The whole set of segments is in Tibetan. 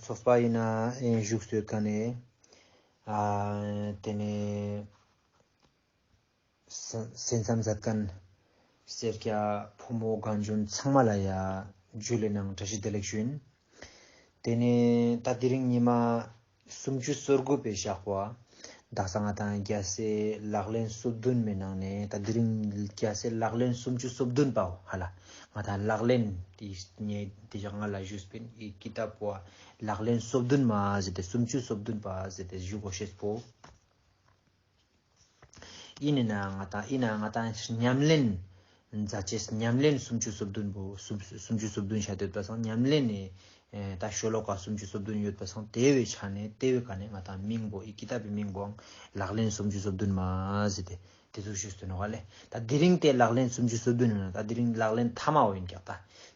ཚོགས་པ་ཡིན་ནའང་བཞུགས་སོས་ག་ནས། དེ་ནས་སེམས་ཙམ་ཟབ་དོན། སེར་སྐྱ་ཕོ་མོ་གངས་ལྗོངས་ཚང་མ་ལ་ཡ། རྒྱུད་ལས་ནང་བཀྲ་ཤིས་བདེ་ལེགས་ཞུ། དེ་ནས་ད་ལྟའི་རིང་ཉི་མ། སུམ་ཅུ་སོ་དགུ་པའི་ཞག་པ། ཟླ་ས་ལྔ་དང་རྒྱལ་སྲས་ལག་ལེན་བསོད་བདུན་མའི་ནང་ནས་ད་འདི་རིང་རྒྱལ་སྲས་ལག་ལེན་སུམ་ཅུ་སོ་བདུན་པའོ་ཧ་ལ། ང་ད་ལག་ལེན་དེ་ཉེ་དེ་ཞག་ལྔ་ལ་བཞུགས་པས་ཡི་གེ་ད་པོ་བ་ལག་ལེན་བསོད་བདུན་མ་ཟེར་ཏེ་སུམ་ཅུ་སོ་བདུན་པ་ཟེར་ཏེ་བཞུགས་གོ་ཞེས་པོ། ཨི་ནི་ན་ང་ཏཱ་ཨི་ན་ང་ཏཱ་ཉམས་ལེན། མཛའ་བཅས་ཉམས་ལེན་སུམ་ཅུ་སོ་བདུན་པོ་སུམ་ཅུ་སོ་བདུན་བྱ་འདོད་པ་སང་ཉམས་ལེན་ནི། ད་ཤོ་ལོ་ཀ་སུམ་ཅུ་སོ་བདུན་ཡོད་པ་སང་དེ་བས་ཆ་ནས་དེ་བས་ག་ནས་ང་ཏཱ་མིང་པོ་ཨི་ཀི་ཏཱ་པི་མིང་པོའང་ལག་ལེན་སུམ་ཅུ་སོ་བདུན་མ་ཟེར་ཏེ་དེ་ཚོ་ཤོད་སྟོན་བ་ལས་ད་དེ་རིང་དེ་ལག་ལེན་སུམ་ཅུ་སོ་བདུན་ཡོད་ན་ད་དེ་རིང་ལག་ལེན་མཐའ་མའོ་ཡིན་ཀྱག་ད་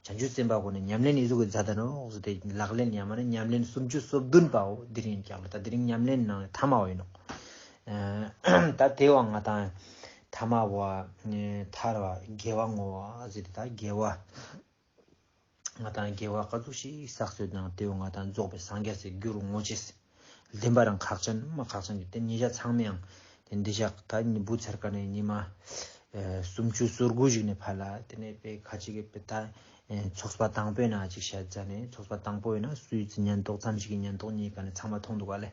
བྱང་ཆུབ་སེམས་དཔའ་གོ་ནས་ཉམས་ལེན་ཨི་ཟུག་གི་མཛའ་ད་ནོག་ཟེར་ཏེ་ལག་ལེན་ཡ་མ་ནི་ཉམས་ལེན་སུམ་ཅུ་སོ་བདུན་པའོ་དེ་རིང་ཡིན་ཀྱག་ལ་ད་དེ་རིང་ཉམས་ལེན་ནང་ནས་མཐའ་མའོ་ཡིན་ནོག། ད་དེ་བ་ང་དང་ཐ་མ་བ་ཐར་བ་དགེ་བ་ངོ་བ་ཟེར་ཏེ་ད་དགེ་བ་ང་དང་དགེ་བ་ག་ཚུགས་ཤིག་བསགས་ཚོད་དང་དེ་བ་ང་དང་རྫོགས་པའི་སངས་རྒྱ་ཟེར་རྒྱུ་རུ་ངོ་ཅེས་བདེན་པ་རང་ཁག་ཅན་མ་ཁག་ཅན་གྱི་དེ་ཉིད་ཆ་ཚང་མའང་དེ་འདི་ཞག་ད་ཉི་བུ་ཚར་ཀ་ནས་ཉི་མ་སུམ་ཅུ་སོ་དགུ་ཞིག་ནས་ཕར་ལ་དེ་ནས་དཔེ་ཁ་ཅིག་གི་དཔེ་ད་ཚོགས་པ་དང་པོའི་ནང་ཅིག་བཤད་རྫ་ནས་ཚོགས་པ་དང་པོ་ཡིན་ན་སུའི་ཉན་རྟོག་ཙམ་ཞིག་གི་ཉན་རྟོག་གཉིས་ཀ་ནི་ཚང་མ་མཐོང་འདུག་ག་ལས།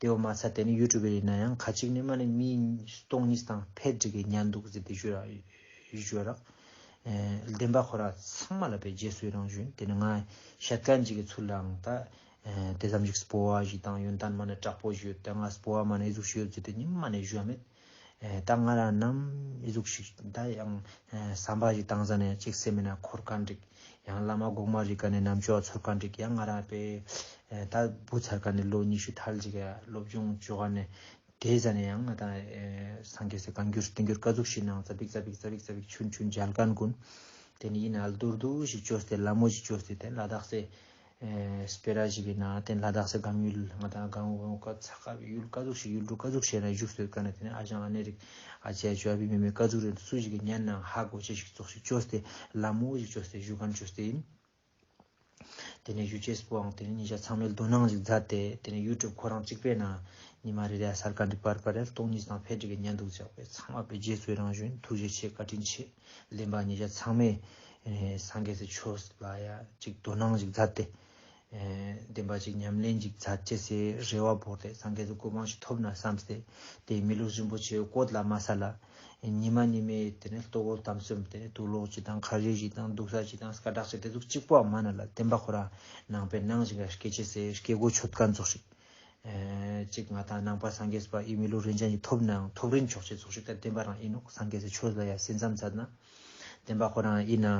དེ་འོ་མ་ཚ་དེ་ནི་ཡུལ་གྲུ་བའི་ཡིན་ན་ཡང་ཁ་ཅིག་ནི་མ་ནི་མིའི་སྟོང་ཉིད་དང་ཕས་བསྒྲིགས་པའི་གཉའ་འདུག་ཟེར་ཏེ་བརྗོད། རགས་ལྡན་པ་ཁོ་ར་ཚང་མ་ལ་པའི་རྗེས་སུའི་རང་བཞིན་དེ་ནི་ང་ཤ་ཀན་ཅིག་གི་ཚུལ་ལའང་ད་དེ་ཙམ་ཞིག་སྤོ་བ་ཞིག་དང་ཡོན་ཏན་མ་ནི་དྲག་པོ་ཞིག་ཡོད་དེ་ང་སྤོ་བ་མ་ནི་གཟུགས་ཤིག་ཡོད་ཟེར་ཏེ་ནི་མ་ནི་བཞོན་མེད་ད་ང་རང་ནམ་གཟུགས་ཤིག་ད་ཡང་བསམ་པ་ཞིག་བཏང་ས་ནས་གཅིག་སེམས་མེད་ན་འཁོར་ག་འགྲིག་ཡང་བླ་མ་གོང་མ་རིག་ག་ནས་ནམ་ཆོས་འཚོལ་ག་འགྲིག་ཡང་ང་རང་པེ་ད་བུ་ཚར་ག་ནས་ལོ་ཉི་ཤུ་ཐལ་ཅིག་སློབ་སྦྱོང་བཅོ་ག་ནས་དེ་ཟ་ནས་ཡང་ད་སངས་རྒྱས་སེ་གང་འགྱུར་བསྟན་འགྱུར་དཀའ་གཟུགས་ཤིག་ནང་རྩ་བིག་རྩ་བིག་རྩ་བིག་རྩ་བིག་ཆུན་ཆུན་འཇལ་ག་འགུན་དེ་ནས་ཡིན་ན་ཨལ་རྡོར་རྡོར་ཞིག་བཅོས་ཏེ་ལ་མོ་ཞིག་བཅོས་ཏེ་དེ་ལ་དྭགས་སེ། སྤེ་ར་ཞིག་གི་ནང་དེ་ལ་དྭགས་སུ་སྒང་ཡུལ་ང་དང་སྒང་བོ་ཡོང་དཀའ་ཚ་དཀའ་བའི་ཡུལ་དཀའ་ཚུགས་ཤིག་ཡུལ་གྲུ་དཀའ་ཚུགས་ཤིག་ནས་བཞུགས་སོས་དཀའ་ནས་དེ་ནས་ཨ་ཞང་ཨ་ནེ་རིག་ཨ་ཅེ་ཨ་ཅོ་ཨ་ཕི་མི་མེད་དཀའ་ཚུགས་རེད་འདུག་སུ་ཞིག་གིས་ཉལ་ནའང་ཧ་གོ་ཅི་ཞིག་བཙོག་ཤིག་བཅོས་ཏེ་ལམ་མོ་ཞིག་བཅོས་ཏེ་བཞུགས་ཁམས་བཅོས་ཏེ་ཡིན། དེ་ནས་གཞུ་ཆེས་པོའང་དེ་ནས་ཉིན་ཞག་ཚང་མའི་རྡོ་སྣང་ཞིག་བརྫད་དེ་དེ་ནས་ཡུལ་གྲུབ་ཁོ་རང་གཅིག་པའི་ནང་ཉི་མ་རེ་རེའི་སར་ཀ་འདི་པར་པར་ཡར་སྟོང་གཉིས་སྟོང་ཕལ་བྲིས་ཀྱི་ཉལ་འདུག་ཅག་པའི་ཚང་མ་པའི་རྗེ་བཙུན་རང་བཞིན་ཐུགས་རྗེ་ཆེ་བཀའ་དྲིན་ཆེ། གླིང་པ་ཉིས་བརྒྱ་ཚང་མས་སངས་རྒྱས་ཀྱི་ཆོས་ལ་ཡ་གཅིག་དོ་སྣང་ཞིག་མཛད་དེ། བདེན་པ་གཅིག་ཉམས་ལེན་ཅིག་མཛད་ཅེས་སའི་རེ་བ་བོར་ཏེ་སངས་རྒྱས་ཀྱི་སྐུ་མང་ཞིག་ཐོབ་ན་བསམས་ཏེ་དེའི་མི་ལུས་རིན་པོ་ཆེའི་བཀོད་ལ་མ་ཟ་ལ། ཉི་མ་ཉི་མའི་དེ་ནས་ལྟོ་གོས་དམ་ཟོས་ཏེ་དུག་ལོག་ཅིག་དང་ཁ་ཡོད་ཅིག་དང་འདུག་ས་ཅིག་དང་སྐ་བྲག་ཅིག་དེ་ཚོ་གཅིག་པོའང་མ་གནང་ལ་བདེན་པ་ཁོ་རང་ནང་པའི་གནང་བཞིན་པའི་སྐད་ཅེས་སའི་སྐད་གོ་ཆོད་དཀར་འཛུགས་ཤིག་གཅིག་ང་དང་ནང་པ་སངས་རྒྱས་པ་ཨི་མི་ལོ་རིན་ཆེན་གྱི་ཐོབ་ནའང་ཐོབ་རིན་ཆོག་ཅེས་ཚོགས་ཞུགས་ལྟར་བསྟན་པ་རང་ཡིན་ནོ་སངས་རྒྱས་ཆོས་ལ་ཡང་སེམས་ཙམ་ཚར་ན། བསྟན་པ་ཁོ་རང་ཡིན་ན་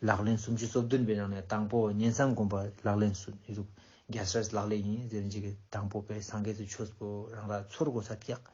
ལག་ལེན་སུམ་ཅུ་སོ་བདུན་པའི་ནང་ནས་དང་པོ་ཉན་བསམ་སྒོམ་པ་ལག་ལེན་སུ་ཡིན་རུང་རྒྱལ་སྲས་ལག་ལེན་ཡིན་ཟེར་གྱི་དང་པོ་པས་སངས་རྒྱས་ཆོས་པོ་རང་ར་ཚོར་དགོས་ས་སྐྱག་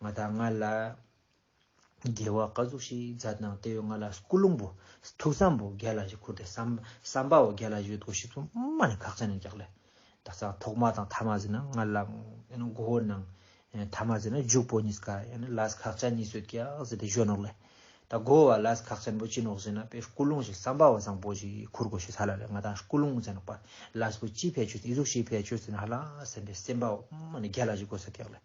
ང་དང་ང་ལ་རྒྱལ་བ་བཀའ་ཟུར་ཞིག་མཛའ་དང་བརྟེ་ཡོད་ང་ལ་སྐུ་རླུང་བུ། ཐུགས་བསམ་བོ་རྒྱལ་ལ་ཞིག་འཁུར་ཏེ་བསམ་པའོ་རྒྱལ་ལ་ཞིག་འདུག་ཞིག་ཚུར་མ་ནས་ཁག་ཅན་ནས་རྒྱག་ལེ། ད་ལྟ་ཐོག་མ་དང་ཐ་མ་ཟེར་ན་ང་ལ་མགོ་བོ་ནང། ཐ་མ་ཟེར་ན་རྒྱུག་པོ་གཉིས་ཀ་ཡང་ལ་ཁག་ཅན་གཉིས་སོད་ཀྱི་ཨག་ཟེར་དེ་བཞོན་ནོག་ལེ། ད་མགོ་བོ་བ་ལ་ཁག་ཅན་པོ་ཅི་ནོག་ཟེར་ན་དཔེ་སྐུ་རླུང་ཞིག་བསམ་པའོ་བཟང་པོ་ཞིག་འཁུར་དགོས་ཞིག་ས་ལ་རེད་ང་དང་སྐུ་རླུང་མཛའ་ནོག་པ་ལ་སྐུ་ཅིའི་ཕས་ཆོད་ཟེར་ན་ཡིད་གཟུགས་ཞིག་ཕས་ཆོད་ཟེར་ན་ཧ་ལ་སེམས་པས་སེམས་པའོ་མ་ནས་རྒྱལ་ལ་ཞིག་དགོས་ས་རྒྱག་ལེ།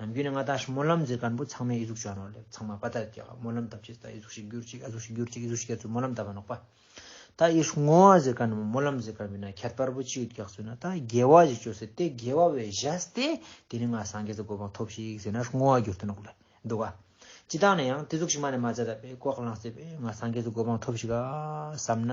ནམ་རྒྱུན་ནས་ང་དང་སྨོན་ལམ་མཛད་གར་འབུ་ཚང་མས་ཨི་གཟུགས་བྱོན་རོགས་ལས་ཚང་མ་དཔའ་དར་རྒྱག་སྨོན་ལམ་བཏབ་ཅེས་ད་ཨི་གཟུགས་ཤིག་གྱུར་ཅིག་ཨ་གཟུགས་ཤིག་གྱུར་ཅིག་ཨི་གཟུགས་ཤིག་གྱུར་ཅིག་སྨོན་ལམ་བཏབ་པ་ནོག་པ། ད་ཨི་བསྔོ་བ་མཛད་གར་ནི་སྨོན་ལམ་མཛད་གར་མིན་ན་ཁྱད་པར་བུ་ཅི་ཡོད་རྒྱག་ཚུལ་ན་ད་དགེ་བ་ཞིག་བཅོལ་ཟེར་ཏེ་དགེ་བ་བས་བཞག་སྟེ་དེ་ནས་ང་སངས་རྒྱས་ཀྱི་གོ་འཕང་ཐོབ་ཤིག་ཟེར་ན་བསྔོ་བ་གྱུར་ཏེ་ནོག་ལེ་འདུག་ག། སྤྱི་བཏང་ནས་ཡང་དེ་གཟུགས་ཤིག་མ་ནས་མ་མཛད་ད་པས་ལྐོག་ལངས་བསད་པས་ང་སངས་རྒྱས་ཀྱི་གོ་འཕང་ཐོབ་ཤིག་ག་བསམ་ན།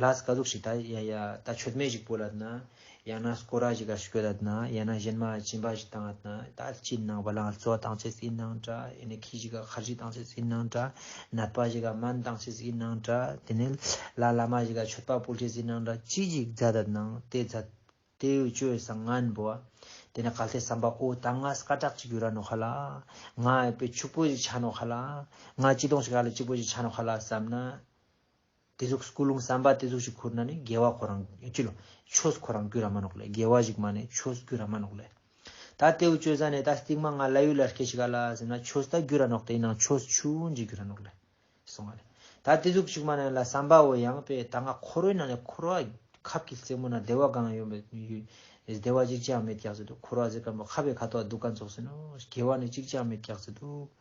ལྷ་སྐ་གཟུགས་ཤིག་ད་ཡ་ཡ། ད་ཆོད་སྨད་ཞིག་པོ་ལ་ན། ཡང་ན་སྐོ་ར་ཞིག་གར་ཤུ་གྱོད་ད་ན། ཡང་ན་གཞན་མ་གཅིན་པ་ཞིག་དང་ན། ད་གཅིན་ནང་བ་ལང་ཚོ་དང་ཚེ་སྲིད་ནང་འདྲ། ཡང་ན་ཁྱི་ཞིག་ག་ཁར་ཞིག་དང་ཚེ་སྲིད་ནང་འདྲ། ནད་པ་ཞིག་ག་སྨན་དང་ཚེ་སྲིད་ནང་འདྲ། དེ་ནས་ལ་བླ་མ་ཞིག་ག་ཆོད་པ་པོ་ཚེ་སྲིད་ནང་འདྲ། ཅི་ཞིག་རྫ་ད་ན། དེ་རྫ། དེ་ཡུལ་བཅོས་བཟང་ངན་པོ། དེ་ནས་གལ་ཏེ་བསམ་པ་ཨོ་ད་ང་སྐ་དྲག་ཅིག་གྱུར་ར་ནོ་ཁ་ལ། ང་ཨེ་པེ་ཕྱུག་པོ་ཞིག་ཆགས་ནོ་ཁ་ལ། ང་སྐྱི་སྡོང་ཞིག་ག་ལ་སྐྱིད་པོ་ཞིག་ཆགས་ནོ་ཁ་ལ་བསམ་ན། དེ་གཟུགས་སྐུ་རླུང་བསམ་པ་དེ་གཟུགས་ཞིག་ཁུར་ན་ནི་རྒྱལ་བ་ཁོ་རང་སྐྱུ་ལོ། ཆོས་ཁོ་རང་སྐྱུ་ར་མ་ནོག་ལེ་རྒྱལ་བ་ཞིག་མ་ནི་ཆོས་སྐྱུ་ར་མ་ནོག་ལེ། ད་ལྟེའུ་སྤྱོད་ས་ནས་ད་སྟིག་མ་ང་ལ་ཡུལ་ལ་སྐྱེ་ཤི་ག་ལ་ཟེར་ན་ཆོས་ད་སྐྱུ་ར་ནོག་དེའི་ནང་ཆོས་ཆུ་བོ་འཇིག་སྐྱུ་ར་ནོག་ལེ། གསུངས་བ་རེད། ད་དེ་གཟུགས་ཞིག་མ་ནི་ལ་བསམ་པ་འོ་ཡང་པས་ད་ང་ཁོ་རོའི་ནང་ནས་ཁོ་རོ་ཨ། ཁབ་ཀྱི་རྩེ་མོ་ན་བདེ་བ་སྒང་ཡོད་མོད་བདེ་བ་ཅིག་ཅང་མེད་སྐྱག་རྫི་འདུག་ཁོ་རོ་ཨ་ཟེར་ག་མོ་ཁ་བའི་ཁ་དོག་སྡུག་ག་འཚོགས་ཟིན་ནོ་རྒྱལ་བ་ནི་ཅིག་ཅང་མེད་སྐྱག་རྫི་འདུག།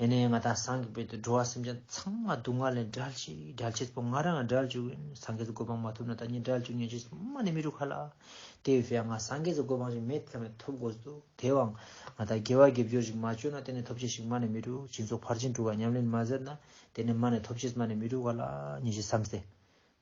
ཡེ་ནས་ང་དང་སངས་རྒྱས་པའི་འགྲོ་བ་སེམས་ཅན་ཚང་མ་སྡུག་བསྔལ་ལས་བསྒྲལ་ཅིག་བསྒྲལ་བྱེད་པོ་ང་རང་བསྒྲལ་བཅུག་སངས་རྒྱས་སུ་གོ་འཕང་མ་ཐོབ་ན་ད་ཉིད་བསྒྲལ་བཅུག་ཉོན་ཅིག་སྨྲ་ནི་མི་རུ་ཁ་ལ་དེ་བས་ང་སངས་རྒྱས་སུ་གོ་འཕང་ཞིག་མེད་ཐལ་མེད་ཐོབ་དགོས་སོ་དེ་བའང་ང་ད་དགེ་བ་དགེ་སྦྱོར་ཞིག་མ་བཅོལ་ན་དེ་ནས་ཐོབ་བྱེད་ཞིག་སྨྲ་ནི་མི་རུ་སྦྱིན་སོགས་ཕར་ཕྱིན་དྲུག་ག་ཉམས་ལེན་མ་ཟད་ན་དེ་ནས་སྨྲ་ནི་ཐོབ་བྱེད་སྨྲ་ནི་མི་རུ་ཁ་ལ་ཉོན་ཅིག་བསམ་སྟེ།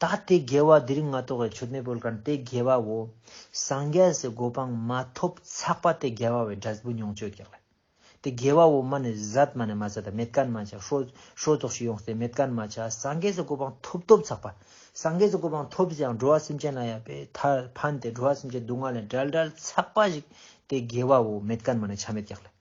ད་དེ་དགེ་བ་འདི་རིགས་མ་གཏོགས་པའི་ཆོས་མེད་པོལ་ཀར་དེ་དགེ་བའོ། སངས་རྒྱས་སུ་གོ་འཕང་མ་ཐོབ་ཚགས་པ་དེ་དགེ་བ་བའི་སྒྲ་ཟབ་བུ་མྱོང་སྤྱོད་གེགས་ལས། དེ་དགེ་བའོ་མ་ནི་ཟད་མ་ནི་མ་ཟད་དང་མེད་ཀན་མ་ཆགས། ཧྲོལ་ཏོག་ཞིག་ཡོང་སྟེ་མེད་ཀན་མ་ཆགས་སངས་རྒྱས་སུ་གོ་འཕང་ཐོབ་ཐོབ་ཚགས་པ། སངས་རྒྱས་སུ་གོ་འཕང་ཐོབ་ཀྱང་འགྲོ་བ་སེམས་ཅན་ལ་ཡང་པའི་མཐར་ཕན་ཏེ་འགྲོ་བ་སེམས་ཅན་སྡུག་བསྔལ་ལས་བསྒྲལ་བསྒྲལ་ཚགས་པ་ཞིག་དེ་དགེ་བའོ་མེད་ཀན་མ་ནི་ཆ་མེད་གེགས་ལས།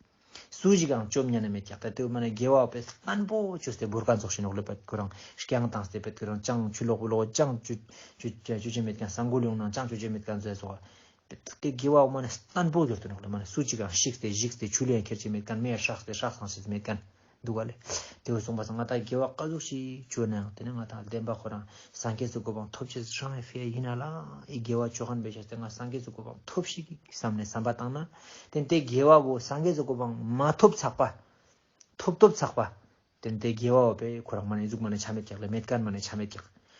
སུ་ཞིག་གང་བཅོམ་ཉན་ན་མེད་ཀྱང་ད་དུ་མ་ནས་དགེ་བ་བས་སྨན་པོ་ཆུ་སྟེ་བུར་ཁ་འཛོགས་ཤིང་ནོག་ལེ་བད་ཀུ་རང་བསྐྱང་དང་སྟེ་བད་ཀུ་རང་བསྐྱང་ཆུ་ལོག་བུ་ལོག་བསྐྱང་ཆུ་ཆུ་ཆུ་ཆེན་མེད་ཀྱང་ས་འགུལ་ཡོང་ན་བསྐྱང་ཆུ་ཆེན་མེད་ཀྱང་མཛད་སོགས་བད་དེ་དགེ་བ་བས་མ་ནས་སྨན་པོ་གྱུར་ཏེ་ནོག་ལེ་མ་ནས་སུ་ཅིག་གང་བཤིག་སྟེ་བཤིག་སྟེ་ཆུ་ལེན་ཁེར་བྱེད་མེད་ཀྱང་མེར་ཧྲག་སྟེ་ཧྲག་སངས་བྱེད་མེད་ཀྱང། འདུག་ག་ལས། དེ་བས་གསུངས་པ་ཚང་ང་དང་དགེ་བ་དཀའ་ཟུག་ཞིག་བྱོས་ན་ཡང་དེ་ནི་ང་དང་ལྡན་པ་ཁོ་རང་སངས་རྒྱས་སུ་གོ་འཕང་ཐོབ་ཕྱིར་ཧྲང་ཧའེ་ཧྥེ་ཡིན་ན་ལ་ཨི་དགེ་བ་ཆོས་ཁང་འབེལ་བྱས་ཏེ་ང་སངས་རྒྱས་སུ་གོ་འཕང་ཐོབ་ཤིག་བསམ་ནས་བསམ་པ་བཏང་ན་དེ་དེ་དགེ་བ་བོ་སངས་རྒྱས་སུ་གོ་འཕང་མ་ཐོབ་ཚགས་པ། ཐོབ་ཐོབ་ཚགས་པ། དེ་དེ་དགེ་བ་བོ་པས་ཁོ་རང་མ་ནས་གཟུགས་མ་ནས་ཆ་མེད་ཀྱག་ལས་མེད་དཀར་མ་ནས་ཆ་མེད་ཀྱག་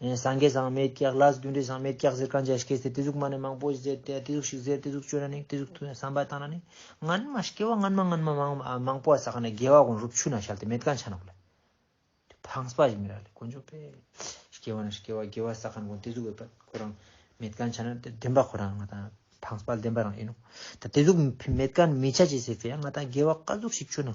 སངས་རྒྱས་ཟག་མེད་སྐྱེ་བླ་རྒྱུ་འབྲས་ཟག་མེད་སྐྱེ་ཟེར་གང་ཅིའང་སྐྱེས་ཟེར་དེ་གཟུགས་མ་ནི་མང་པོ་ཟེར་དེ་གཟུགས་ཤིག་ཟེར་དེ་གཟུགས་སྤྱོད་ན་ནི་དེ་གཟུགས་ཐུགས་ནས་བསམ་པ་བཏང་ན་ནི་སྔན་མ་སྐྱེ་བ་སྔན་མ་སྔན་མ་མང་མང་པོ་བ་ཟག་ནས་རྒྱལ་བ་གོང་རུབ་ཆུ་ན་ཤར་ཏེ་མེད་གང་ཆ་ན་བ་ལ། འཕངས་པ་ཞིག་མི་ར་ལས་དཀོན་མཆོག་པས། སྐྱེ་བ་ན་སྐྱེ་བ་རྒྱལ་བ་ཟག་གང་གོང་དེ་གཟུགས་འོད་པ་ཁོ་རང་མེད་གང་ཆ་ན་དེ་བདེན་པ་ཁོ་རང་ང་དང་འཕངས་པ་བདེན་པ་རང་ཡིན་ནོ། ད་དེ་གཟུགས་མེད་གང་མི་ཆ་ཅི་ཟེར་དེ་ཡང་ང་དང་རྒྱལ་བ་བཀའ་གཟུགས་ཤིག་ཆུ་ན་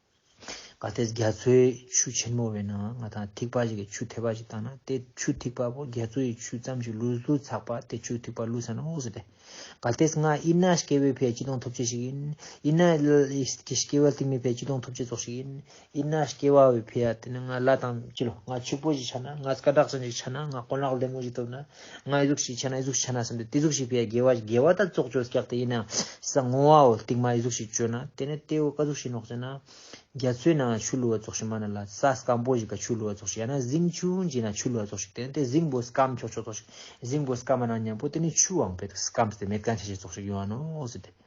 ག་སྟེ་རྒྱ་མཚོའི་ཆུ་ཆེན་མོ་བའི་ནང་ང་དང་ཐིགས་པ་ཞིག་གིས་ཆུ་ཐེག་པ་ཞིག་བཏང་ན་དེ་ཆུ་ཐིགས་པ་པོ་རྒྱ་མཚོ་ཡི་ཆུ་ཙམ་ཞིག་བླུད་བླུད་ཚགས་པ་དེ་ཆུ་ཐིགས་པ་བླུད་ས་ན་འོག་ཟེར་ཏེ། ག་སྟེ་ང་ཨི་ན་ཤཀྱའི་བོའི་ཕའི་སྐྱི་གདོང་ཐོབ་བྱེད་ཞིག་ཡིན། ཨི་ན་ཤཀྱའི་བ་ལྟིག་མའི་ཕའི་སྐྱི་གདོང་ཐོབ་བྱེད་ཙོག་ཞིག་ཡིན། ཨི་ན་ཤཀྱའི་བ་བའི་ཕའི་ཨ་དེ་ནི་ང་བླ་དང་བཅས་ལོ་ང་ཕྱུག་པོ་ཞིག་ཆགས་ན་ང་སྐ་དྲག་ཅན་ཞིག་ཆགས་ན་ང་དཀོན་ལག་ལེབ་མོ་ཞིག་ཐོབ་ན། ང་ཡི་གཟུགས་ཤིག་ཆགས་ན་ཡི་གཟུགས་ཤིག་ཆགས་ན་བསམ་སྟེ་དེ་གཟུགས་ཤིག་པའི་དགེ་བ་དགེ་བ་དག་བཙོག་ཅོལ་བཀྱགས་ཏེ་ཡིན་ནའང་ས་ངོ་བའོ་རྟིང་མ་ཡི་གཟུགས་ཤིག་སྤྱོད་ན་དེ་ནི་ལྟེ་བའི་ཀ་གཟུགས་ཤིག་ནོག་ཅེ་ན། རྒྱ་མཚོའི་ནང་ན་ཆུ་བླུ་བ་བཙོག་ཤིག་མ་ན་ལ་ས་སྐམ་པོ་ཞིག་ལ་ཆུ་བླུ་བ་བཙོག་ཤིག་ཡང་ན་གཟིམ་ཆུང་ཅིག་ན་ཆུ་བླུ་བ་བཙོག་ཤིག་དེ་ནི་དེ་གཟིམ་པོ་སྐམ་ཆོག་ཆོག་བཙོག་ཤིག་གཟིམ་པོ་སྐམ་མ་ན་ཉམས་པོ་དེ་ནི་ཆུའང་བེད་དུ་སྐམ་ཟེར་ཏེ་མེ་བཀང་ཆ་ཤས་བཙོག་ཤིག་ཡོང་བ་ནོ་ཟེར་ཏེ།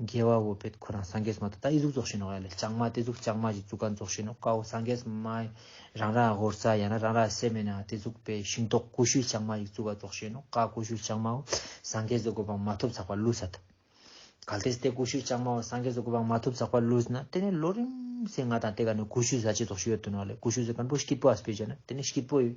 རྒྱལ་བ་བོ་པད་ཁོ་རང་སངས་རྒྱས་མ་ད་ལྟ་ཨི་གཟུགས་རྫོགས་བཞིན་ནོ་ཡ་ལ་ལྕང་མ་དེ་གཟུགས་ལྕང་མ་བཞིན་གཙུག་ག་རྫོགས་བཞིན་ནོ་དཀའ་བོ་སངས་རྒྱས་མ། རང་རང་ཧོར་རྩ་ཡང་ན་རང་རང་སེམས་མེད་ནའང་དེ་གཟུགས་པའི་ཤིང་ཏོག་ཀུ་ཤུའི་ལྕང་མ་བཞིན་གཙུག་ག་རྫོགས་བཞིན་ནོ་དཀའ་ཀུ་ཤུའི་ལྕང་མའོ། སངས་རྒྱས་སུ་དགོས་པའང་མ་ཐོབ་འཛག་པ་བསླུས་ས་ད། གལ་ཏེ་སྟེ་ཀུ་ཤུའི་ལྕང་མའོ་སངས་རྒྱས་སུ་དགོས་པའང་མ་ཐོབ་འཛག་པ་བསླུས་ན་དེ་ནས་ལོ་རིམ་བསྲེས་ང་དང་དེ་ག་ནས་ཀུ་ཤུའི་བཟའ་བཅའི་རྫོགས་བྱེད་ཡོད་དོ་ནའོ་ལེ་ཀུ་ཤུའི་བཟའ་བཀན་པོ་སྐྱིད་པོ་ཨ་སི་པའི་རྗེས་ན་དེ་ནས་སྐྱིད་པོ་ཡོད།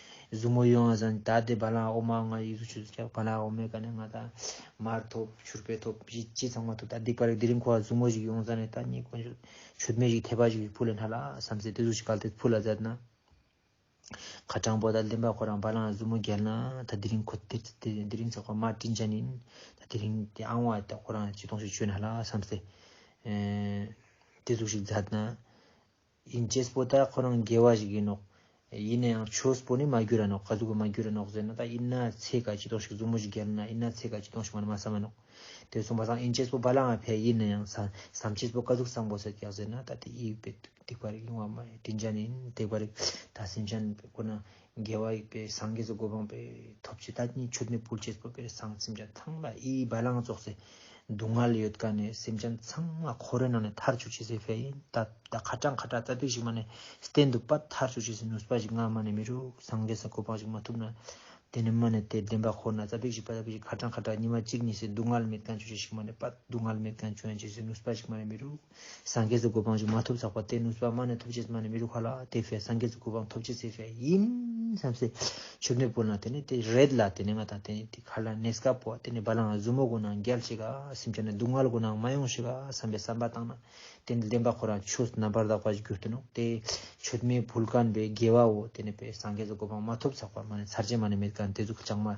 གཟུགས་མོ་ཡོངས་ཟན་བདའ་སྟེ་བ་ལང་འོ་མ་ལྔ་ཡིག་གཟུགས་ཆུ་ཚོད་བརྒྱ་བ་ལང་འོ་མའི་སྐལ་ནས་ལྔ་དང། མར་ཐོབ། ཕྱུར་པས་ཐོབ། བཞི་སྤྱི་ཚང་མ་ཐོབ་ད་སྡིག་པ་རིགས་དེ་རིང་འཁོར་བ་གཟུགས་མོ་ཞིག་ཡོངས་ཟན་ནས་ད་གཉིས་དཀོན་མཆོག་ཆོས་སྨན་ཞིག་ཐེག་པ་ཞིག་བུ་ལས་སྣ་ལ་བསམ་ཚེ་དེ་གཟུགས་ཞིག་གལ་ཏེ་བུ་ལ་མཛད་ན། ཁ་དྲང་པོ་ད་བདེན་པ་ཁོ་རང་བ་ལང་གཟུགས་མོ་རྒྱལ་ན་ད་དེ་རིང་ཁོ་དེ་དེ་རིང་ཚེ་ཁོ་མ་བཀྲིན་ཅན་ཡིན། ད་དེ་རིང་དེ་ཨང་བ་ད་ཁོ་རང་སྤྱི་སྟོང་ཞིག་ཆོས་སྣ་ལ་བསམ་ཚེ། དེ་གཟུགས་ཞིག་མཛད་ན། ཡིན་ཅེས་པོ་ད་ཁོ་རང་རྒྱལ་བ་ཞིག་ཡིན་ནོག། ཡིན་ན་ཡང་ཆོས་པོ་ནི་མ་གྱུར་ར་ནོག་ག་ཟུག་གི་མ་གྱུར་ར་ནོག་ཟེར་ན་ད་ཡིན་ན་ཚེ་ག་ཅི་དོང་ཞིག་བཟུང་མོ་ཞིག་རྒྱལ་ན་ཡིན་ན་ཚེ་ག་ཅི་དོང་ཞིག་མ་ན་མ་བསམ་མ་ནོག། དེ་གསུངས་པ་སང་ཡིན་ཅེས་པོ་བ་ལང་བ་ཕལ་ཡིན་ན་ཡང་བསམ་ཅེས་པོ་ག་ཟུག་བསམ་པོ་ཟེར་གྱ་ཟེར་ན་ད་དེ་ཡིད་བདེ་བ་རིག་ཡོང་བ་མ་རེད་དྲིན་ཅན་ཡིན་བདེ་བ་རིག་ད་སེམས་ཅན་པོ་ན་རྒྱལ་བ་ཡིག་པའི་སངས་རྒྱས་སུ་སྒོ་འཕངས་པའི་ཐོབ་བྱེད་ད་ཉིད་ཆུ་ནི་བུལ་བྱེད་སྤོས་པའི་གསང་སེམས་ཀྱང་ཐང་ལ་ཨི་བ་ལང་རྫོགས་ཚེ་སྡུག་བསྔལ་ལས་ཡོད་ག་ནས་སེམས་ཅན་ཚང་མ་ཁོ་རོ་ན་ནས་ཐར་ཆོད་བྱེད་སའི་ཕལ་ཡིན་ད་ད་ཁ་དྲག་མཁའ་དྲག་རྩ་བརྡེག་ཞིག་མ་ནས་བསྟན་འདུག་པ་ཐར་ཆོད་བྱེད་སའི་ནུས་པ་ཞིག་སྔ་མ་ནས་མི་རུག་སངས་རྒྱས་སུ་སྒོ་འཕངས་ཞིག་མ་ཐུབ་ན་དེ་ནི་མ་ནས་དེ་བདེན་པ་ཁོ་ན་རྩ་བརྡེག་ཞིག་པ་རྩ་བརྡེག་ཞིག་ཁ་དྲག་མཁའ་དྲག་ཉི་མ་གཅིག་གཉིས་སེ་སྡུག་བསྔལ་མེད་ག་ཆོད་བྱེད་ཞིག་མ་ནས་པ་སྡུག་བསྔལ་མེད་ག་ཆོད་བྱེད་སའི་ནུས་པ་ཞིག་མ་ནས་མི་རུག། སངས་རྒྱས་སུ་གོ་འཕང་ཞིག་མ་ཐོབ་ཟག་པ་སྟེ་ནུབ་པདྨ་ནས་ཐོབ་བྱེད་ཚད་མ་ནི་མི་རུ་ཁ་ལ་དེ་བས་སངས་རྒྱས་སུ་གོ་འཕང་ཐོབ་བྱེད་ཚད་བས་ཡིན། བསམ་སེ། ཆུ་སྣོད་སྤུན་ལ་དེ་ནི་དེ་རེད་ལ་དེ་ནི་ང་དང་དེ་ནི་དེ་ཁར་ལ་ནས་སྐ་པོ་བ་དེ་ནི་བ་ལང་ལ་བཟུ་མོ་གོ་ནང་རྒྱལ་ཞིག་ག་སེམས་ཅན་ནི་སྡུག་བསྔལ་གོ་ནང་མ་ཡོང་ཞིག་ག་བསམ་པའི་བསམ་པ་བཏང་ན་དེ་ནི་བདེན་པ་ཁོ་རང་ཆོས་སུ་རྣམ་པར་དག་པ་ཞིག་གྱུར་ཏེ་ནོ་དེ་ཆོས་མེད་བུ་ལ་གནས་པའི་དགེ་བའོ་དེ་ནི་བས་སངས་རྒྱས་སུ་གོ་འཕང་མ་ཐོབ་ཟག་པ་མ་ནི་ཚར་བྱེད་མ་ནི་མེད་ག་ནི་དེ་ཚུལ་ཁྲིམས་ཀྱང་མ།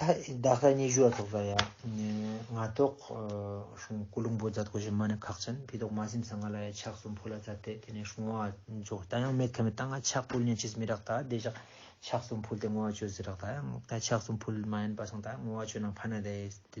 ད་ད་ལྟ་ཉི་ཤུ་བ་ཚོགས་པ་ཡ་ང་ཐོག་ཤོང་སྐུ་ལུང་པོ་རྫ་ཐོག་བཞི་མ་ནས་ཁག་ཅན་ཕི་ཐོག་མ་སིམ་ས་ང་ལ་ཡ་ཆགས་སུམ་ཕོ་ལ་རྫ་དེ་དེ་ནས་ཤོང་བ་རྫོགས་ད་ཡང་མེད་ཁ་མི་ད་ང་ཆགས་ཕུལ་ཉན་ཆིས་མི་རག་ད་དེ་བཞག་ཆགས་སུམ་ཕུལ་དེ་ངོ་བ་ཆོད་ཟི་རག་ད་ཡང་ད་ཆགས་སུམ་ཕུལ་མ་ཡན་པ་སང་ད་ངོ་བ་ཆོད་ན་ཕ་ན་དེ་དེ་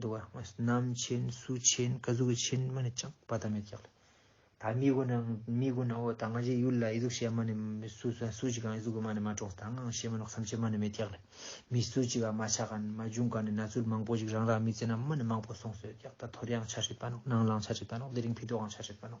འདུག་བ་སྔོན་སྣམ་ཆེན་སུ་ཆེན་སྐ་གཟུགས་ཀྱི་ཆེན་མ་ནི་ཅང་བ་ད་མེད་ཀྱག་ལ། ད་མི་དགོས་ན་མི་དགོས་ན་འོ་ད་ང་རྒྱལ་ཡུལ་ལ་ཨི་གཟུགས་བྱས་མ་ནི་མི་སུ་སུ་སུ་ཅིག་གང་ཨི་གཟུགས་མ་ནི་མ་གྲོགས་ད་ངང་བྱས་མ་ནོག་སམ་བྱས་མ་ནི་མེད་ཀྱག་ལ། མི་སུ་ཅིག་ག་མ་ཆག་ག་ནི་མ་བྱུང་ག་ནི་ན་ཚུལ་མང་པོ་ཅིག་རང་རང་མི་ཚེ་ན་མ་ནི་མང་པོ་སོང་སོད་ཀྱག་ད་དོར་ཡང་ཆ་ཧྲིལ་པ་ནོག་ནང་ལང་ཆ་ཧྲིལ་པ་ནོག་དེ་རིང་ཕི་དོ་གང་ཆ་ཧྲིལ་པ་ནོག།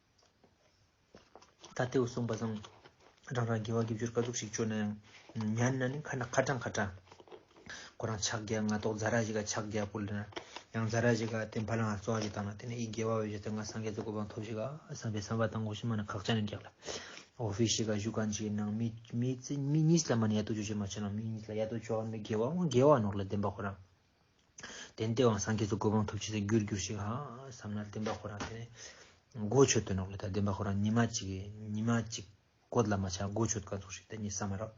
ད་ལྟའི་འོད་སྲུང་པ་བཟང། རང་རང་དགེ་བ་དགེ་བཅུར་དཀའ་སྡུག་ཞིག་སྤྱོད་ན་ཡང། མྱ་ནི་ནི་ཁ་ན་ཁ་དྲང་ཁ་དྲང། ཁོ་རང་ཕྱག་རྒྱ་ང་ཏོག་ཛཱ་ར་ཞིག་ག་ཕྱག་རྒྱ་པོ་ལེ་ན། ཡང་ཛཱ་ར་ཞིག་ག་དེ་འཕར་ལ་ང་གཙོ་བ་ཞིག་བཏང་ན་དེ་ནས་ཨི་དགེ་བ་འོས་བྱས་ཏེ་ང་སངས་རྒྱས་ཀྱི་གོ་འཕང་ཐོབ་ཞིག་ག་བསམ་པའི་བསམ་པ་དང་གོ་ཞིག་མ་ན་ཁག་ཅག་ནས་རྒྱག་ལ། འོ་ཕི་ཞིག་ག་བཞུགས་ཁང་ཅིག་གི་ནང་མི་མི་གཉིས་ལ་མ་ནི་ཡ་ཏོ་ཅོ་ཅོ་མ་བྱས་ན་མི་གཉིས་ལ་ཡ་ཏོ་ཅོ་བ་མི་དགེ་བ་དགེ་བ་ནོར་ལ་ལྡན་པ་ཁོ་རང། དེན་ཏེ་དབང་སངས་རྒྱས་སུ་གོ་འཕང་ཐོབ་བྱས་ཚེ་རྒྱུར་འགྱུར་ཞིག་བསམ་ན་བདེན་པ་ཁོ་རང་དེ་མགོ་ཆོད་དོན་རོགས་ལས་ད་བདེན་པ་ཁོ་རང་ཉི་མ་གཅིག་ཉི་མ་གཅིག་གོ་ལ་མ་ཆག་མགོ་ཆོད་དཀའ་ཚོགས་ཤིག་ད་ཉིད་བསམ་མ་རོགས་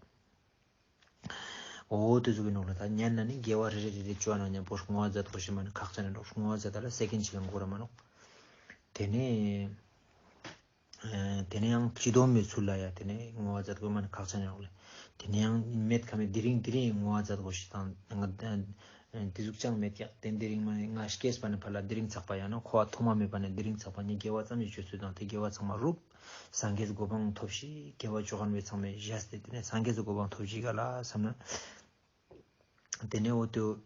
འོ་དེ་ཚོ་གི་རོགས་ལས་ད་ཉན་ན་ནི་རྒྱལ་བ་རེ་རེ་རེ་རེ་བཅོ་ན་ཉམས་པོ་ཧྲུག་ངོ་ཛ་ཐོ་ཞེས་མ་ནི་ཁག་ཅན་རེ་རོགས་ཧྲུག་ངོ་ཛ་ད་ལ་སེ་གན་ཆིག་ལ་མགོ་ར་མ་རོགས་དེ་ནས་དེ་ནས་ཡང་ཅི་དོ་མོས་ཚུར་ལ་ཡ་དེ་ནས་ངོ་བ་འཛད་གོ་མ་ནི་ཁག་ཆ་ཉོག་ལེ། དེ་ནས་ཡང་མེད་ཁ་མེད་དེ་རིང་དེ་རིང་ངོ་བ་འཛད་གོ་ཞིག་དང། དེ་གཟུགས་ཅང་མེད་ཀྱག་དེ་དེ་རིང་མ་ནི་ང་ཤཀེས་པ་ནི་ཕར་ལ་དེ་རིང་ཚགས་པ་ཡང་ན་ཁོ་བ་ཐོག་མ་མེད་པ་ནི་དེ་རིང་ཚགས་པ་ཉིད་དགེ་བ་ཙམ་གྱི་སྤྱོད་ཚུལ་དང་དེ་དགེ་བ་ཚང་མ་རུབ། སངས་རྒྱས་སུ་གོ་འཕང་ཐོབ་ཞིག་དགེ་བ་ཅོ་གར་མོས་ཚང་མས་བཞེས་སྟེ་དེ་ནས་སངས་རྒྱས་སུ་གོ་འཕང་ཐོབ་ཅིག་ག་ལ་བསམ་ན། དེ་ནས་འོ་དོད།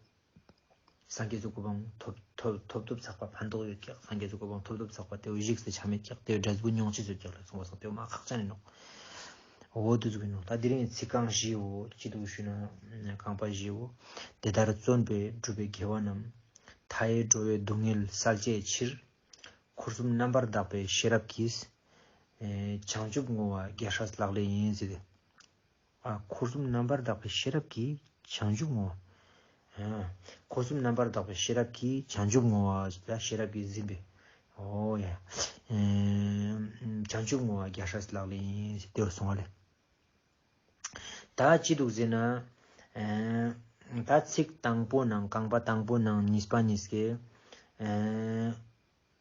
སངས་རྒྱས་ཀྱི་གོ་འཕང་ཐོབ། ཐོབ་ཐོབ་ཐོབ་ཚགས་པ་ཕན་འདོགས་ཡོད་ཀྱག་སངས་རྒྱས་ཀྱི་གོ་འཕང་ཐོབ་ཐོབ་ཚགས་པ་དེའུ་བཞུགས་སུ་ཆ་མེད་ཀྱག་དེའུ་སྒྲ་གཟུགས་མྱོང་བྱེད་ཚོད་ཀྱག་ལ་གསུངས་པ་སངས་དེའུ་མ་ཁག་ཅག་ནི་ནོག། འོ་དོད་གཟུགས་ནོག་ད་དེ་རིང་ཚིག་རྐང་བཞིའོ་ཅི་འདུག་ཞུས་ན། རྐང་པ་བཞིའོ། དེ་ལྟར་བརྩོན་པས་བསྒྲུབས་པའི་དགེ་བ་རྣམས། མཐའ་ཡས་འགྲོ་བའི་སྡུག་བསྔལ་བསལ་བྱའི་ཕྱིར། འཁོར་གསུམ་རྣམ་པར་དག་པའི་ཤེས་རབ་ཀྱིས། བྱང་ཆུབ་བསྔོ་བ་རྒྱ་ཧྲཱི་ལག་ལེན་ཡིན་ཟེར། འཁོར་གསུམ་རྣམ་པར་དག་པའི་ཤེས་རབ་ཀྱིས་བྱང་ཆུབ་བསྔོ་བ། འཁོར་གསུམ་རྣམ་པར་དག་པའི་ཤེས་རབ་ཀྱིས་བྱང་ཆུབ་བསྔོ་བ། ཤེས་རབ་ཀྱིས་འཛིན་པའི། བྱང་ཆུབ་བསྔོ་བ་རྒྱ་ཧྲཱི་སི་ལག་ལེན། དེ་བས་གསུང་བ་ལས། དག་ཅི་འདུག་ཟེར་ན། ད་ཚིག་དང་པོ་ནང་རྐང་པ་དང་པོ་ནང་གཉིས་པ་གཉིས་ཀའི།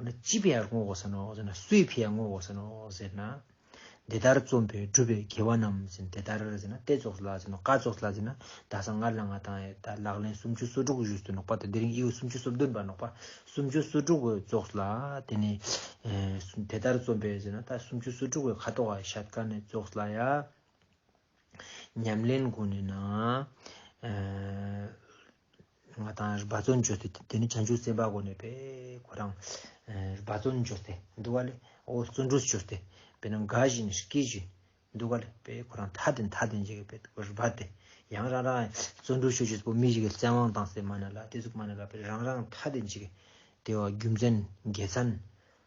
འོ་ན་ཅི་བས་བསྔོ་བ་ཟེར་ནོ་ཟེར་ན་སུས་བས་བསྔོ་བ་ཟེར་ནོ་ཟེར་ན། འདི་ལྟར་རྩོམ་པའི་སྒྲུབ་པའི་དགེ་བ་རྣམས་ཟེར་ནས་དེ་ལྟར་ཟེར་ན་ཏེ་ཙོགས་ལ་ཟེར་ནོ་ཀ་ཙོགས་ལ་ཟེར་ན་ད་ས་ངར་ལ་ང་དང་ཡེ་ད་ལག་ལེན་སུམ་ཅུ་སོ་དྲུག་བཞུགས་སུ་ནོག་པ་དང་དེ་རིང་དབྱེ་བས་སུམ་ཅུ་སོ་བདུན་པར་ནོག་པ་སུམ་ཅུ་སོ་དྲུག་གོ་ཙོགས་ལ་དེ་ནས་དེ་ལྟར་རྩོམ་པས་ཟེར་ན་ད་སུམ་ཅུ་སོ་དྲུག་བས་ཁ་དོག་ག་ཤད་ཀ་ནས་ཙོགས་ལ་ཡ། ཉམས་ལེན་དགུ་ནས་ན། ང་དང་རྦ་བཙོན་འཇོག་སྟེ་དེ་ནི་བྱང་ཆུབ་སེམས་དཔའ་གོ་ནས་པས་ཁོ་རང་རྦ་བཙོན་འཇོག་སྟེ་འདུག་ག་ལས་འོ་བཙོན་འགྲུས་བྱོས་ཏེ་པས་ན་འགའ་ཞིག་ནི་སྐྱེས་བྱོས་འདུག་ག་ལས་པས་ཁོ་རང་ཐ་དད་མཐའ་དད་འཇལ་བའི་པས་རྦ་སྟེ་ཡང་རང་རང་བཙོན་འགྲུས་བྱོས་བྱོས་པས་མི་ཞིག་གི་བཙན་དབང་དང་སེ་མ་ན་ལ་སྟེ་གཟུགས་མ་ན་ལ་པས་རང་རང་ཐ་དད་འཇལ་བའི་དེ་བ་རྒྱུ་མཚན་རྒྱལ་མཚན།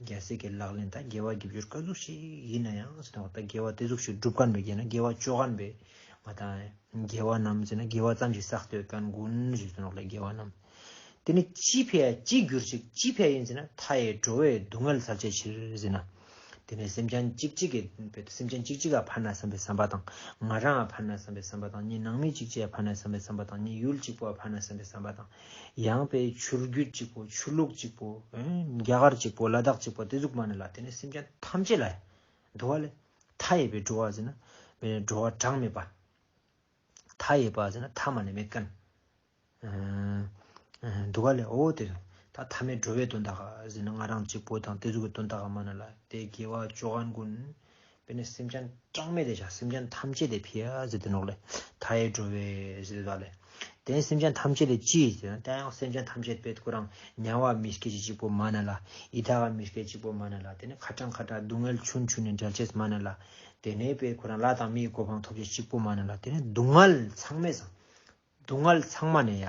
རྒྱལ་སྲས་ཀྱི་ལག་ལེན་ད་རྒྱལ་བ་བརྒྱད་བཅུར་བཀའ་ཟུར་ཞིག་ཡིན་ན་ཡང་ཟེར་ན་ད་རྒྱལ་བ་དེ་ཟུག་ཞིག་སྒྲུབ་ཁ་འདོན་རྒྱལ་ན་རྒྱལ་བ་ཅོ་ག་འབེ་མ་ད་རྒྱལ་བ་རྣམས་ཟེར་ན་རྒྱལ་བ་ཙམ་ཞིག་བསགས་སྟོད་དཀར་མགོན་ཞིག་ཟེར་ན་ལ་རྒྱལ་བ་རྣམས་དེ་ནི་ཅི་ཕལ་ཅི་འགྱུར་ཅིག་ཅི་ཕལ་ཡིན་ཟེར་ན་མཐའ་ཡས་འགྲོ་བའི་སྡུག་བསྔལ་ཚར་བཅད་ཕྱིར་ཟེར་ན་དེ་ནི་སེམས་ཅན་གཅིག་གཅིག་གི་སེམས་ཅན་གཅིག་གཅིག་ག་ཕར་ན་བསམ་པའི་བསམ་པ་དང་ང་རང་ག་ཕར་ན་བསམ་པའི་བསམ་པ་དང་གཉིས་ནང་མི་གཅིག་གཅིག་ག་ཕར་ན་བསམ་པའི་བསམ་པ་དང་གཉིས་ཡུལ་གཅིག་པོ་ག་ཕར་ན་བསམ་པའི་བསམ་པ་དང་ཡང་དཔེ་ཆུར་རྒྱུད་གཅིག་པོ་ཆུ་ལུག་གཅིག་པོ། རྒྱ་གར་གཅིག་པོ་ལ་དྭགས་གཅིག་པོ་དེ་གཟུགས་མ་ནས་ལ་དེ་ནས་སེམས་ཅན་ཐམས་ཅད་ལ་འགྲོ་བ་ལས་མཐའ་ཡས་པའི་འགྲོ་བ་ཟེར་ན་མེད་ནས་འགྲོ་བ་གྲངས་མེད་པ། མཐའ་ཡས་པ་ཟེར་ན་མཐའ་མ་ནས་མེད་ཀན། འདུ་བ་ལས་འོ་དེ་ད་མཐའ་མེད་འགྲོ་བའི་དོན་དག་ཟེར་ན་ང་རང་གཅིག་པོ་དང་དེ་གཟུགས་ཀྱི་དོན་དག་མ་ནས་ལ་དེ་དགེ་བ་ཅོ་ག་འགོན། དཔེར་ན་སེམས་ཅན་གྲངས་མེད་དེ་བྱ་སེམས་ཅན་ཐམས་ཅད་དེ་ཕི་ཨ་ཟི་ཏི་ནོག་ལས་མཐའ་ཡས་འགྲོ་བས་ཟི་ཏི་ཏཱ་ལས། དེ་ནས་སེམས་ཅན་ཐམས་ཅད་ལས་ཅི་ཡིས་ཟེར་ན་ད་ཡང་སེམས་ཅན་ཐམས་ཅད་པད་སྐུ་རང་མྱང་བ་མི་སྐད་ཅིག་གཅིག་པོ་མ་ན་ལ་ཡི་དྭགས་ཀ་མི་སྐད་ཅིག་པོ་མ་ན་ལ་དེ་ནས་ཁ་དྲང་ཁ་དྲང་སྡུག་བསྔལ་ཆུན་ཆུན་ནས་འབྲལ་བྱེད་མ་ན་ལ་དེ་ནས་པད་སྐུ་རང་ལ་དང་མིའི་གོ་འཕང་ཐོབ་བྱེད་གཅིག་པོ་མ་ན་ལ་དེ་ནས་སྡུག་བསྔལ་ཚང་མས་སྡུག་བསྔལ་ཚང་མ་ནས་ཡ།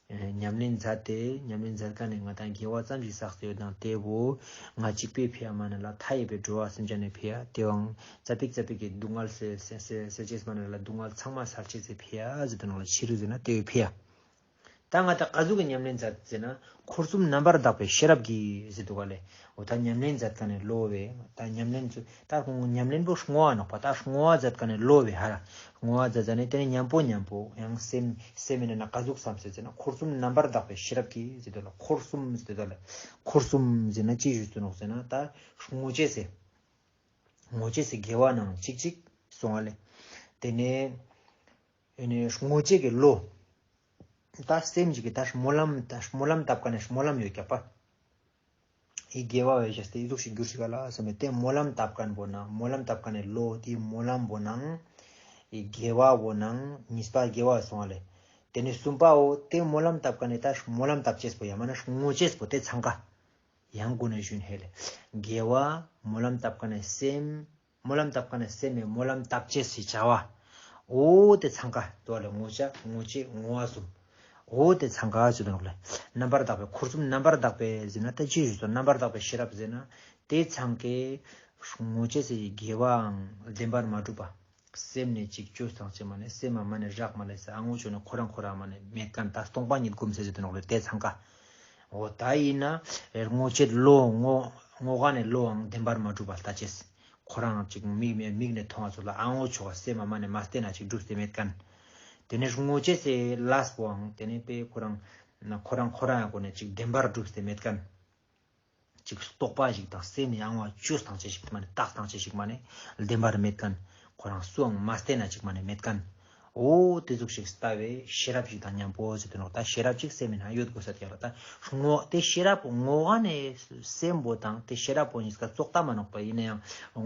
ཉམས་ལེན་མཛད་དེ་ཉམས་ལེན་མཛད་ཀ་ནས་ང་དང་རྒྱལ་བ་ཙམ་ཞིག་བསགས་སྟེ་ཡོད་དང་བལྟས་བོ། ང་གཅིག་པས་ཕེ་ཡ་མ་ན་ལ་མཐའ་ཡས་པའི་འགྲོ་བ་སེམས་ཅན་ནས་ཕེ་ཡ་དེ་བང་རྩ་ཕིག་རྩ་ཕིག་གི་སྡུག་བསྔལ་སེལ་བྱེད་མ་ན་ལ་སྡུག་བསྔལ་ཚང་མ་སེལ་བྱེད་ཚེ་ཕེ་ཡ་ཟེར་དུ་ནང་ལ་ཕྱི་རུ་ཟེར་ན་དེ་བས་ཕེ་ཡ། ད་ང་དང་ག་ཟུག་གི་ཉམས་ལེན་མཛད་ཟེར་ན་འཁོར་གསུམ་རྣམ་པར་དག་པའི་ཤེས་རབ་ཀྱིས་ཟེར་དུ་ག་ལས་འོ་ད་ཉམས་ལེན་མཛད་དཀའ་ནས་གློ་བས་ད་ཉམས་ལེན་མཛོད་ད་ཉམས་ལེན་པོ་སྔོ་བ་ནོག་པ་ད་སྔོ་བ་མཛད་དཀའ་ནས་གློ་བས་ཧ་ལ་སྔོ་བ་མཛད་མཛད་ནས་དེ་ནས་ཉམས་པོ་ཉམས་པོ་ཡང་སེམས་སེམས་མེད་ན་ན་ག་གཟུགས་སམ་ཟེར་ཟེར་ན་འཁོར་གསུམ་རྣམ་པར་དག་པའི་ཤེས་རབ་ཀྱིས་ཟེར་དོ་ལ་འཁོར་གསུམ་ཟེར་དོ་ལ་འཁོར་གསུམ་ཟེར་ན་ཅི་ཞུས་ཟིན་ནོག་ཟེར་ན་ད་སྔོ་བྱས་ཟེར་སྔོ་བྱས་ཟེར་དགེ་བ་ནང་ཅིག་ཅིག་སོང་བ་ལས་དེ་ནས་ཡོ་ནས་སྔོ་བྱས་ཀྱི་བློ་ད་སེམས་ཅིག་གིས་ད་སྨོན་ལམ་ད་སྨོན་ལམ་བཏབ་དཀའ་ནས་སྨོན་ལམ་ཡོད་རྒྱག་པ་ཨི་དགེ་བ་བས་ཤཱསྟའི་གཟུགས་ཤིག་འགྱུར་ཞིག་ག་ལ་སེམས་པས་དེ་སྨོན་ལམ་དབབ་གར་འབོད་ན་སྨོན་ལམ་དབབ་གར་ནས་ལོ་དེའི་སྨོན་ལམ་བོ་ན་ཨི་དགེ་བ་བོ་ན་ཉིས་པ་དགེ་བ་བས་སོང་བ་ལས། དེ་ནས་གསུམ་པའོ་དེ་སྨོན་ལམ་དབབ་གར་ནས་ད་སྨོན་ལམ་དབབ་ཅེས་བོ་ཡང་མ་ན་ངོ་ཅེས་བོ་དེ་འཚང་ག། ཡང་དགོན་ནས་བཞུན་ཧེ་ལས་དགེ་བ་སྨོན་ལམ་དབབ་གར་ནས་སེམས། སྨོན་ལམ་བཏབ་ཁ་ནས་སད་མའི་སྨོན་ལམ་བཏབ་ཅེས་སུས་བྱ་བ། འོ་དེ་ཚང་ཁ་དོག་ལས་ངོ་བྱ་ངོ་བྱེད་ངོ་བ་གསུམ། འོ་དེ་ཚང་ཁ་ཅེས་དོག་ལས་རྣམ་པར་དག་པའི་འཁོར་གསུམ་རྣམ་པར་དག་པས་ཟིན་ན་ལྟ་ཅི་ཞིག་སོགས་རྣམ་པར་དག་པའི་ཤེས་རབ་ཟིན་ན་དེ་ཚང་ཁའི། ངོ་བྱེད་ཚེ་དགེ་བའང་བདེན་པར་མ་གྲུབ་པ། སེམས་ནས་གཅིག་ཆོད་སངས་ཆེན་མ་ནས་སེམས་མ་མ་ནས་རག་མ་ལས་སའང་ངོ་བྱོན་ནས་འཁོར་རང་འཁོར་རང་མ་ནས་མེད་ཀ་ནས་ད་སྟོང་པ་ཉིད་བསྒོམ་ཚེ་ཟེར་དོ་ནོག་ལས་དེ་ཚང་ཁ། འོ་ད་ཡིན་ན་རེར་སྔོ་ཆད་བློ་སྔོ་སྔོ་ག་ནས་བློའང་བདེན་པར་མ་གྲུབ་པར་ལྟ་ཅེས། ཁོ་རང་ཅིག་མིག་མེད་མིག་ནས་མཐོང་བ་ཚོ་ལ་ཨ་སྔོ་ཆོ་ག་སེ་མ་མ་ནས་མ་བལྟས་ན་ཅིག་འགྲུབ་སེ་མེད་ཀན། དེ་ནས་སྔོ་ཆད་སེ་ལས་པོའང་དེ་ནས་པས་ཁོ་རང་ཁོ་རང་ཁོ་རང་གོ་ནས་ཅིག་བདེན་པར་འགྲུབ་སེ་མེད་ཀན། གཅིག་རྟོགས་པ་ཞིག་དང་སེམས་ཡང་བ་ཅོས་སྟངས་ཅན་ཞིག་མ་ནི་རྟགས་སྟངས་ཅན་ཞིག་མ་ནི་བདེན་པར་མེད་ཀན། ཁོ་རང་སུའང་མ་བསྟན་ན་ཅིག་མ་ནི་མེད་ཀན། འོ་དེ་གཟུགས་ཤིག་ལྟ་བས་ཤེས་རབ་ཅིག་དང་མཉམ་པོ་ཟེར་དོན་ལོག་ལྟ་ཤེས་རབ་ཅིག་སེམས་མེད་ན་ཡོད་དགོས་ས་དེ་ཡང་ལོག་ལྟ་ངོ། དེ་ཤེས་རབ་པོ་ངོ་བ་ནི་སེམས་པོ་དང་དེ་ཤེས་རབ་པོ་གཉིས་ཀ་རྩོག་ལྟ་མ་ནོག་པ་ཡིན་ན་ཡང་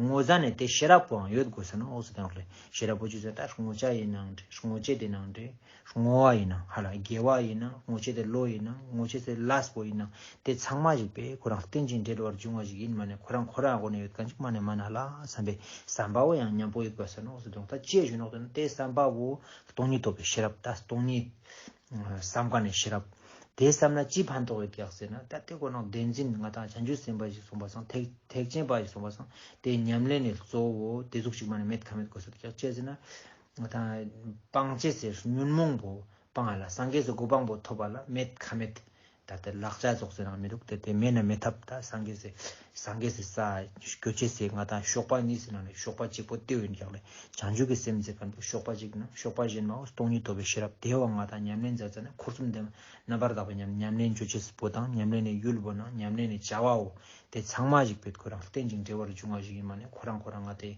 ངོ་ས་ནི་དེ་ཤེས་རབ་པོའང་ཡོད་དགོས་ས་ནོག་ཟེར་དོན་ལོག་ལྟ་ཤེས་རབ་པོ་ཅིག་ཟེར་ན་ངོ་བྱ་ཡི་ནང་འདྲེས་ངོ་བྱེད་དེ་ནང་འདྲེས། སྔོ་བ་ཡིན་ནམ་ཧ་ལ་རྒྱལ་བ་ཡིན་ནམ་སྔོ་ཆེ་ཚེ་ལོ་ཡིན་ནམ་སྔོ་ཆེ་ཚེ་ལཱས་པོ་ཡིན་ནམ་དེ་ཚང་མ་ཞིག་པས་ཁོ་རང་རྟེན་ཅིང་འབྲེལ་བར་འབྱུང་བ་ཞིག་ཡིན་མ་ནས་ཁོ་རང་ཁོ་རང་སྒོ་ནས་ཡོད་གང་ཅི་མ་ནས་མ་ན་ལ་བསམ་པའི་བསམ་པ་བོ་ཡང་མཉམ་པོ་ཡོད་པ་ཟེར་ནོག་ཟེར་དུང་ཐ་ཅེས་ཞུས་ནོག་དོན་དེ་བསམ་པ་བོ་སྟོང་ཉིད་ཐོབ་པའི་ཤེས་རབ་ད་སྟོང་ཉིད་བསམ་ག་ནས་ཤེས་རབ་དེ་བསམ་ན་ཅི་ཕན་ཐོགས་ཡོད་ཀྱག་ཟེར་ན་ད་དེ་ཁོ་ནོག་བདེན་འཛིན་ང་དང་བྱང་ཆུབ་སེམས་དཔའ་ཞིག་གསུངས་པ་སང་ཐེག་ཐེག་ཆེན་པ་ཞིག་གསུངས་པ་སང་དེ་ཉམས་ལེན་ནས་གཙོ་བོ་དེ་གཟུགས་ཅིག་མ་ནས་མེད་ག་མེད་དགོས་ཟེར་ཀྱག་ཅེས་ཟེར་ན་ང་དང། སྤང་བྱེད་ཟེར་ཉོན་མོངས་པོ་སྤང་བ་ལ་སངས་རྒྱས་སུ་གོ་འཕང་པོ་ཐོབ་པ་ལ་མེད་ཁ་མེད། ད་ལྟ་ལག་ཆ་རྫོགས་ཟེར་ནའང་མི་འདུག་དེ་དེ་མེད་ན་མེད་ཐབས་ད་སངས་རྒྱས་ཟེར་སངས་རྒྱས་ཟེར་ས་གོ་ཆེད་ཟེར་ང་དང་གཤོག་པ་གཉིས་ཟེར་ནའང་རེད་གཤོག་པ་གཅིག་པོ་ལྟེ་བའི་འགྱག་ལས་བྱང་ཆུབ་ཀྱི་སེམས་ཟེར་ག་འདུག་གཤོག་པ་གཅིག་ཡིན་ན་གཤོག་པ་གཞན་མའོ་སྟོང་ཉིད་ཐོབ་པའི་ཤེས་རབ་བདེ་བ་ང་དང་ཉམས་ལེན་མཛའ་བརྩེ་ནི་འཁོར་གསུམ་ལྡན་པ་རྣམ་པར་དག་པའི་ཉམས་ཉམས་ལེན་གྱོད་ཆེད་པོ་དང་ཉམས་ལེན་ནི་ཡུལ་བོ་ནང་ཉམས་ལེན་ནི་བྱ་བའོ་དེ་ཚང་མ་གཞིག་པའི་ཁོ་རང་སྟེན་ཅིང་འབྲེལ་བར་འབྱུང་བ་ཞིག་ཡིན་མ་ནི་ཁོ་རང་ཁོ་རང་ང་དེ།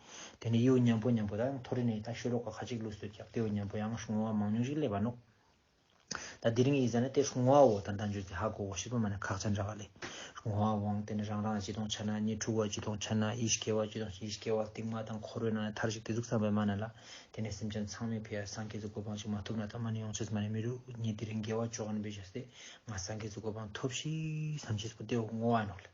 དེ་ནས་ཡེའུ་མཉམ་པོ་མཉམ་པོ་དང་མཐོ་རིས་ནས་ད་ཤོད་རོགས་ཁ་ཁ་ཅིག་ལུས་སུ་བཅག་ཏེའུ་མཉམ་པོ་ཡང་ཧྲུང་བ་མང་ཉུང་ཞིག་སླེབས་པ་ནུབ། ད་འདིར་ངའི་ཡིད་ས་ནི་དེ་ཧྲུང་བའོ་དང་དང་བརྗོད་ཀྱི་ཧ་གོ་བོ་ཞིག་པོ་མ་ནི་ཁག་ཆ་འདྲ་བ་ལས། ཧྲུང་བ་བོང་དེ་ནི་རང་རང་གཅིག་དང་ཆ་ན་གཉིས་དྲུག་བ་གཅིག་དང་ཆ་ན་ཡིད་སྐྱེ་བ་གཅིག་དང་ཡིད་སྐྱེ་བ་གཏིང་མ་དང་འཁོར་བའི་ནང་ནས་ཐར་ཞིག་དེ་གཟུགས་ཚངས་པའི་མ་ན་ལ། དེ་ནས་སེམས་ཅན་ཚང་མས་ཕལ་ཡར་སངས་རྒྱས་གཟུགས་གོ་འཕང་ཅིག་མ་ཐོབ་ན་ད་མ་ནི་ཡོངས་ཆད་མ་ནི་མི་རུ་ངས་འདིར་འགལ་བ་ཅོག་ནི་འབད་བྱས་སྟེ་ང་སངས་རྒྱས་གཟུགས་གོ་འཕང་ཐོབས་ཤིག་བསམ་བྱས་སོ་སྟེའུ་སྔོ་བ་ནོར་ལས།